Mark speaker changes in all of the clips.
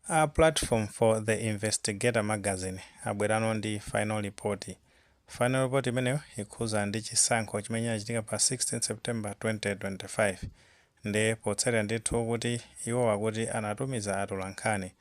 Speaker 1: A platform for the Investigator magazine abwerano ndi final report. Final report imeneyo ikukhuza ndi chisankho chimene chinachitika pa 16 September 2025. Nde potsatira ndithu kuti iwowo akuti anatumiza atolankhani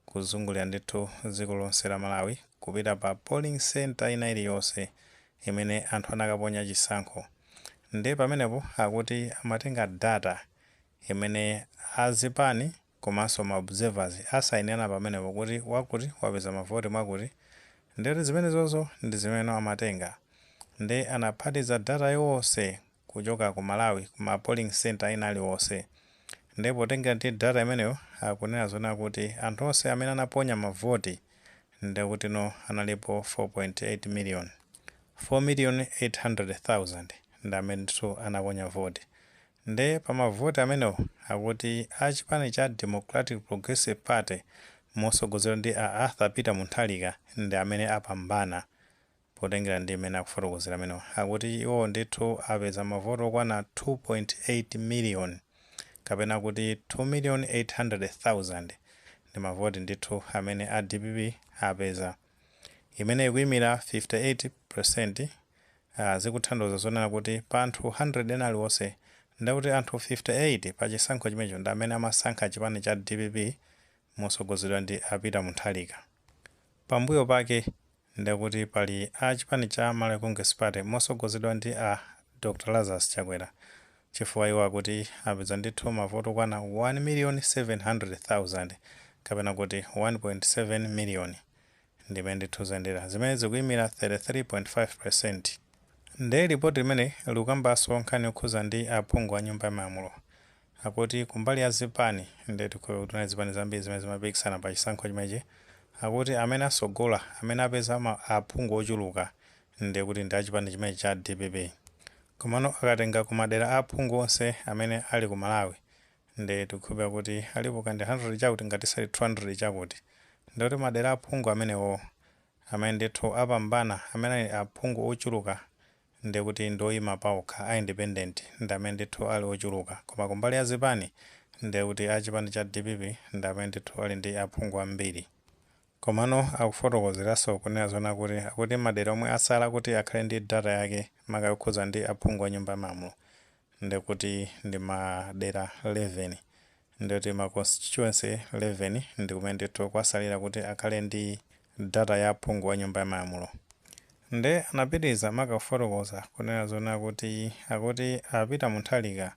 Speaker 1: kuzungulira ndithu dziko lonse la Malawi kupita pa polling centre ina iliyonse imene anthu anakaponya chisankho. Nde pamenepo akuti amatenga data imene a zipani. komanso ma observers asainirana pamenepo kuti wakuti wapeza mavoti mwakuti ndiye kuti zimenezozo ndi zimene amatenga ndiye anaphatiza data yonse kuchoka ku Malawi ku ma polling centre ena aliwonse ndiye potengera ndi data imeneyo akunena zonena kuti anthu onse amene anaponya mavoti ndiye kutino analipo 4.8 million, 4,800,000 ndi amene ndithu anaponya voti Nde pa mavoti amenewo akuti a chipani cha Democratic Progressive Party mosogozedwa ndi a Arthur Peter Munthalika ndi amene apambana potengera ndi mmene akufotokozera amenewa akuti iwowo ndithu apeza mavoti okwana 2.8 million kapena kuti 2,800,000 ndi mavoti ndithu amene a dpp apeza imene ikuimira 58 peresenti, zikutanthauza zonena kuti pa anthu 100 ena aliwonse nde kuti anthu 58 pa chisankho chimenecho ndi amene amasankha chipani cha dpp mosogozedwa ndi a Peter Munthalika. Pambuyo pake nde kuti pali a chipani cha Malawi Congress Party mosogozedwa ndi a Dr Lazarus Chakwera Chifukwa iwo akuti apeza ndithu mavoti okwana 1,700,000 kapena kuti 1.7 million ndimene ndithu zayendera zimene zikuyimira 33.5% nde lipoti limeneli likukambaso nkhani yokhuza ndi aphungu anyumba yamalamulo akuti kumbali ya zipani nde tikukhulupira kuti kunali zipani zambiri zimene zimapikisana pachisankho chimenechi akuti amene asogola amene apeza aphungu ochuluka Ndiye kuti ndi achipani chimenechi cha dpp. Komano akatenga ku madera a aphungu onse amene ali ku Malawi ndiye tikukhulupirira kuti alipo kaya ndi 100 chakuti ngati sali 200 chakuti. Ndiye kuti madera a aphungu amenewowo amene ndithu apambana amene ali aphungu ochuluka ndiye kuti ndi oyima paokha a independent ndi amene ndithu ali ochuluka. Koma kumbali ya zipani ndiye kuti a chipani cha dpp ndi amene ndithu ali ndi aphungu ambiri. Komano akufotokozeranso kunena zonena kuti akuti madera omwe atsala kuti akhale ndi data yake maka yokhudza ndi aphungu a nyumba ya malamulo ndekuti ndi madera 11 ndikuti ma constituency 11 ndikumene ndithu kwatsalira kuti akhale ndi data ya aphungu a nyumba ya malamulo. Nde anapitiliza maka kufotokoza kunena zonena kuti akuti a Peter Munthalika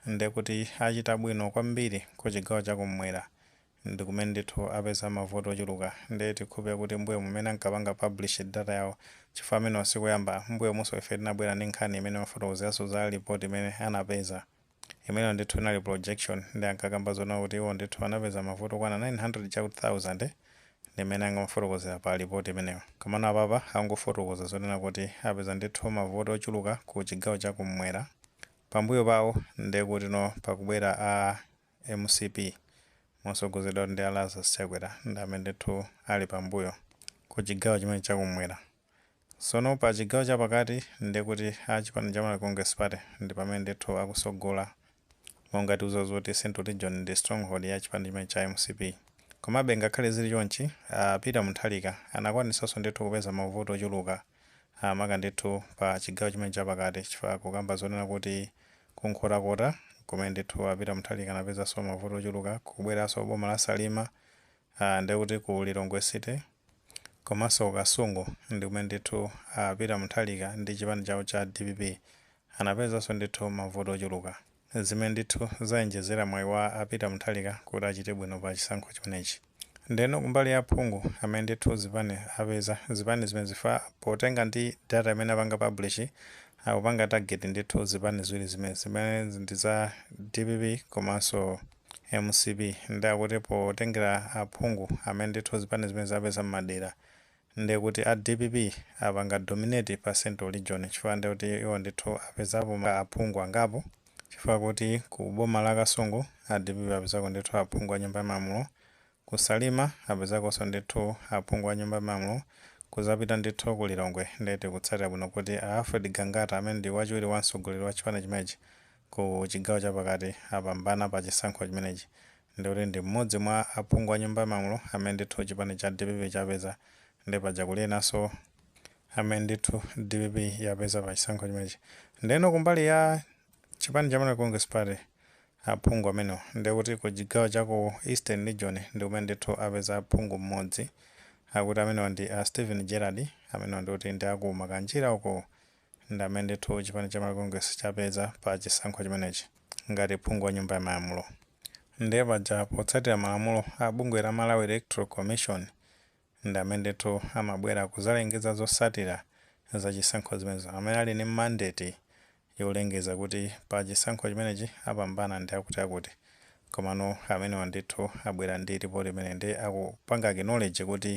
Speaker 1: ndekuti achita bwino kwambiri kuchigawo chakumwera ndikumene ndithu apeza ma vote ochuluka nde tikhulupilira kuti mbuyomu mene ankapanga publish data yawo chifukwa amenewa sikuyamba mbuyomuso ife tinabwera ndi nkhani imene imafotokozeraso za report imene anapeza imene ndithu inali projection nde ankakamba zonena kuti iwo ndithu anapeza ma vote okwana 900 chakuti thousand ndimene ankafotokozera pa report imeneyo komano apapa akungofotokoza zonena kuti apeza ndithu ma vote ochuluka ku chigawo chakummwera pambuyo pawo ndekutino pakubwera a Mcp mosogozedwa ndi a Lazarus Chakwera ndi amene ndithu ali pambuyo ku chigawo chimene chakumwera. Sono pa chigawo chapakati ndiye kuti a chipani cha Malawi Congress Party ndi pamene ndithu akusogola monga tidziwa zoti central region ndi stronghold ya chipani chimene cha mcp. Komabe ngakhale zili chonchi a Peter Mutharika anakwanisaso ndithu kupeza mavoti ochuluka maka ndithu pa chigawo chimene chapakati chifukwa akukamba zonena kuti Kunkhotakota nkumene ndithu a Peter Mutharika anapezanso mavoti ochuluka kubweranso ku boma la Salima, aah ndekuti ku Lilongwe City komanso ku Kasungu ndikumene ndithu a Peter Mutharika ndi chipani chawo cha dpp anapezanso ndithu mavoti ochuluka zimene ndithu zawonjezera mwayi wa a Peter Mutharika kuti achite bwino pa chisankho chimenechi. Ndeno kumbali ya aphungu amene ndithu zipani apeza, zipani zimene chifukwa potengera ndi data imene apanga publish, akupanga target ndithu zipani ziwiri zimenezi, zimene ndi za dpp komanso mcp, nde akuti potengera aphungu amene ndithu zipani zimenezi zapeza m'madera, ndekuti a dpp apanga dominate pa central region chifukwa ndekuti iwo ndithu apezapo aphungu angapo chifukwa kuti ku boma la kasungu a dpp apezako ndithu aphungu a nyumba ya malamulo ku salima apezakonso ndithu aphungu a nyumba ya malamulo kuzapita ndithu ku lilongwe nde tikutsatira bwino kuti a alfred gangata amene ndi wachiwiri kwa mtsogoleri wa chipani chimenechi ku chigawo chapakati apambana pa chisankho chimenechi ndikuti ndi mmodzi mwa aphungu a nyumba ya malamulo amene ndithu chipani cha dpp chapeza nde paja kuli enanso amene ndithu dpp yapeza pa chisankho chimenechi ndeno kumbali ya chipani cha malawi congress party aphungu amenewo ndekuti ku chigawo cha ku eastern region ndi kumene ndithu apeza phungu mmodzi akuti amenewa ndi a stephen gerald amenewa ndikuti ndi aku makanjira uko Ndamene ndithu chipani cha makongresi chapeza pa chisankho chimenechi ngati phungu wa nyumba ya malamulo ndiye paja potsatira malamulo a bungwe la Malawi Electoral Commission ndamene ndithu amabwera kuzalengeza zosatira za chisankho zimenezo amene ali ndi mandate yolengeza kuti pa chisankho chimenechi apambana ndi akuti akuti Komano amenewa ndithu abwera ndi report imeneyi ndiye akupanga acknowledge kuti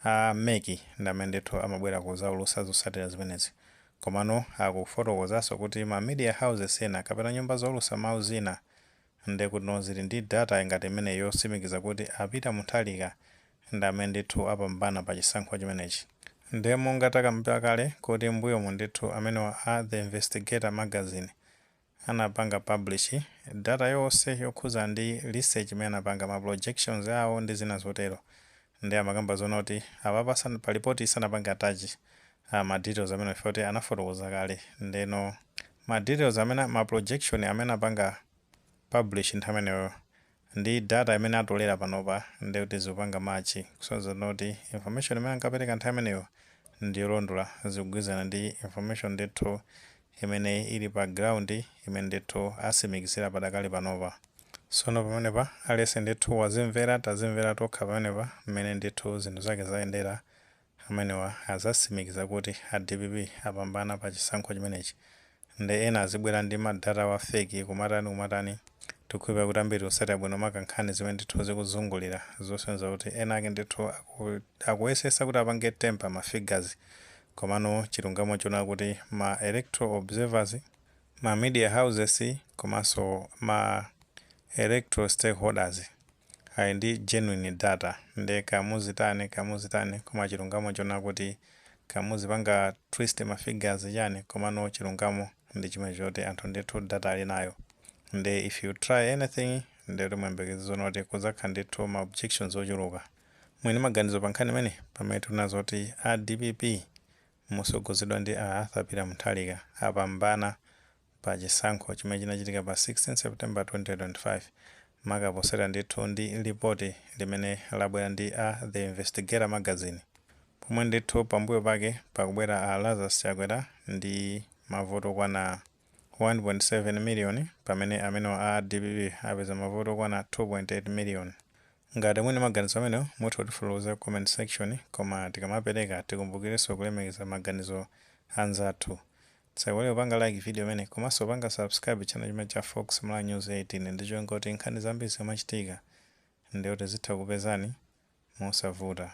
Speaker 1: a mec ndi amene ndithu amabwera kudzaulutsa zotsatira zimenezi. Komano akufotokozanso kuti ma media houses ena kapena nyumba zoulutsa mawu zina ndekuti zili ndi data ngati imeneyi yotsimikiza kuti a Peter Mutharika ndi amene ndithu apambana pa chisankho chimenechi. Ndiye monga takamba kale kuti m'mbuyomu ndithu amenewa a The Investigator Magazine anapanga publish data yonse yokhuzana ndi research imene anapanga, ma projections awo ndi zina zotero, nde amakamba zoona kuti apapa sana pa report yi sanapange attach ma details amenewo chifukwa kuti anafotokoza kale ndeno ma details amene ma projection amene anapanga publish nthawi imeneyoyo Ndi data imene atolera panopa ndiye kuti zikupanga match kusonyeza kuti information imene ankapereka nthawi imeneyo ndi yolondola, zikugwirizana ndi information ndithu imene ili pa ground imene ndithu asimikizira pakadali panopa. Tsono pamenepa aliyense ndithu wazimvera, tazimvera tokha pamenepa mmene ndithu zinthu zake zayendera amenewa azasimikiza kuti a dpp apambana pa chisankho chimenechi nde ena azibwela ndi ma data awo a fake kumatani kumatani tikukhulupila kuti ambiri tikusatila bwino maka nkhani zimene ndithu zikuzungulira zosonyeza kuti ena ake ndithu akuyesesa kuti apange tamper ma figures komano chilungamo nchonena kuti ma electoral observers, ma media houses komanso ma electoral stakeholders. Ali ndi genuine data nde kaya muzitani kaya muzitani koma chilungamo chonakuti kaya muzipanga twist ma figures chani komano chilungamo ndichimenecho choti anthu ndithu data alinayo nde if you try anything nde kuti muyembekeze zoona kuti kuzakhala ndithu ma objections ochuluka. Muli ndi maganizo pa nkhani imeneyi? Pamene tikunena zoti a dpp motsogozedwa ndi a Arthur Peter Mutharika apambana pa chisankho chimene chinachitika pa 16 September 2025 maka potengera ndithu ndi lipoti limene labwera ndi a The Investigator Magazine pomwe ndithu pambuyo pake pakubwera a Lazarus Chakwera ndi mavoti okwana 1.7 miliyoni pamene amenewa a dpp apeza mavoti okwana 2.8 miliyoni. Ngati muli ndi maganizo amenewo mutha kutifotokozera ku comment section koma tikamapereka tikumbukirenso kulemekeza maganizo a anzathu. Tisaiwale kupanga like video imeneyi komanso kupanga subscribe channel chimenechi cha Fox Malawi News 18 ndi cholinga kuti nkhani zambiri zikamachitika ndiye kuti zitha kukupezani mosavuta.